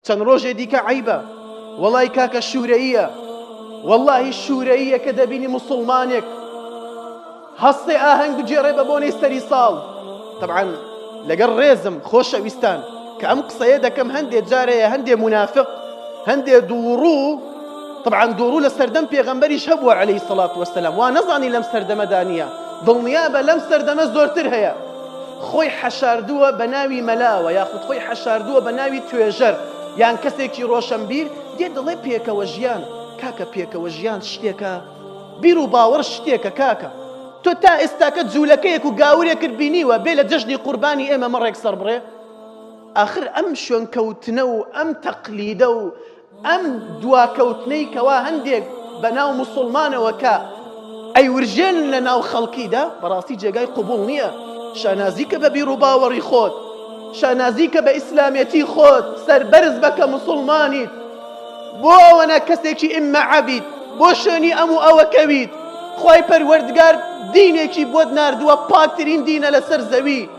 چەند ڕۆژێ دیکە عیبە وەڵی کاکە شوورەیە واللهی شوورەیە کە دەبینی مسلمانێک هەستێ ئاهەنگ بگێڕێ بە بۆنەی سەری ساڵ طبعاان لەگەڵ ڕێزم خۆشەویستان کە ئەم قسەیە دەکەم هەندێک جارەیە هەندێ منافق هەندێ دووڕوو طبعاان دووڕوو لە سەردەم پێغەمبەریش هەبووە عليهەی سەڵات وەسەلام وا نەزانی لەم سەردەمەدانە دڵنیا بە لەم سەردەمە زۆرتر هەیە خۆی حەشاردووە بە ناوی مەلاوە یاخود خۆی حەشاردووە بە ناوی توێژەر یان کەسێکی ڕۆشەنبیر دێ دەڵێ پێکەوە ژیان کاکە پێکەوە ژیان شتێکە بیر و باوەڕ شتێکە کاکە تۆ تا ئێستاکە جوولەکەیەک و گاورێکت بینیوە بێ لە جەژنی قوربانی ئێمە مەڕێک سەربڕێ ئاخر ئەم شوێنکەوتنە و ئەم تەقلیدە و ئەم دواکەوتنەی کەوا هەندێک بەناو موسڵمانەوە کە ئەیورژێنن لە ناو خەڵکیدا بەڕاستی جێگای قوبوڵ نییە شانازی کە بە بیڕوباوەڕی خۆت شانازی کە بە ئیسلامەتی خۆت سەربەرز بە کە مسلمانیت بۆ ئەوەنە کەسێکی ئیمە عەبیت بۆ شوێنی ئەم و ئەوە کەویت خی پەروەردگار دینێکی بۆت نردووە پاکترین دینە لەسەر زەوی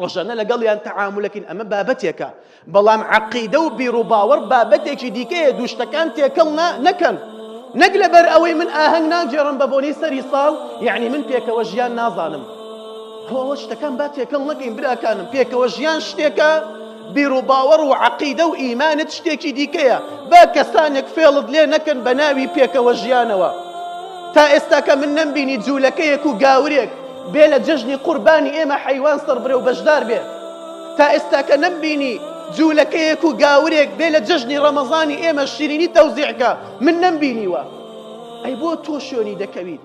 ڕۆژانە لەگەڵیان تەعامولەکەین ئەمە بابەتێکە بەڵام عقیدە و بیرروباوەڕ بابەتێکی دیکەیە دوشتەکان تێکەڵ نەکەن نەک لەبەر ئەوەی من ئاهەنگ ناگێڕم بە بۆنی سەری ساڵ یعنی من پێکەوە ژیان نازانم هەوە شتەکان با تێکەڵ نەکەین براکانم پێکەوە ژیان شتێکە بیروباوەڕ و عەقیدە و ئیمانت شتێکی دیکەیە، با کەسانێک فێڵت لێ نەکەن بە ناوی پێکەوە ژیانەوە. تا ئێستاکە من نەمبینی جوولەکەیەک و گاورێک بێ لە جەژنی قوربانی ئێمە حەیوان سڕبرێ و بەشدار بێ. تا ئێستاکە نەمبینی جوولەکەیەک و گاورێک بێ لە جەژنی ڕەمەزانی ئێمە شیرینی تەوزیع کا، من نەمبینیوە. ئەی بۆ تۆ شوێنی دەکەویت؟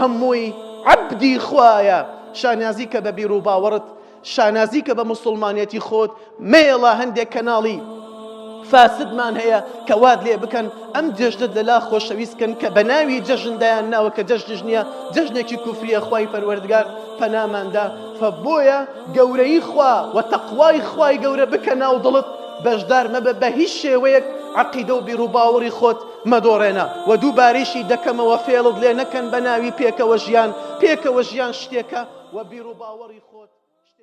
هەمووی عەبدی خوایە شانازی کە بە بیروباوەڕت شانازی کە بە موسڵمانەتی خۆت مەیەڵە هەندێک کەناڵی فاسدمان هەیە کە واد لێ بکەن ئەم جەژنت لەلا خۆشەویستکەن کە بە ناوی جەژن دایان ناوە کە جەژنش نییە جەژنێکی کوفریە خوای پەروەردگار پەناماندا فە بۆیە گەورەی خوا و تەقوای خوای گەورە بکە ناو دڵت بەشدار مەبە بە هیچ شێوەیەک عقیدە و بیروباوەڕی خۆت مەدۆڕێنە و دووبارەیشی دەکەمەوە فێڵت لێ نەکەن بەناوی پێکەوە ژیان، پێکەوە ژیان شتێکە و بیروباوەڕی خۆت شتێکی ترە.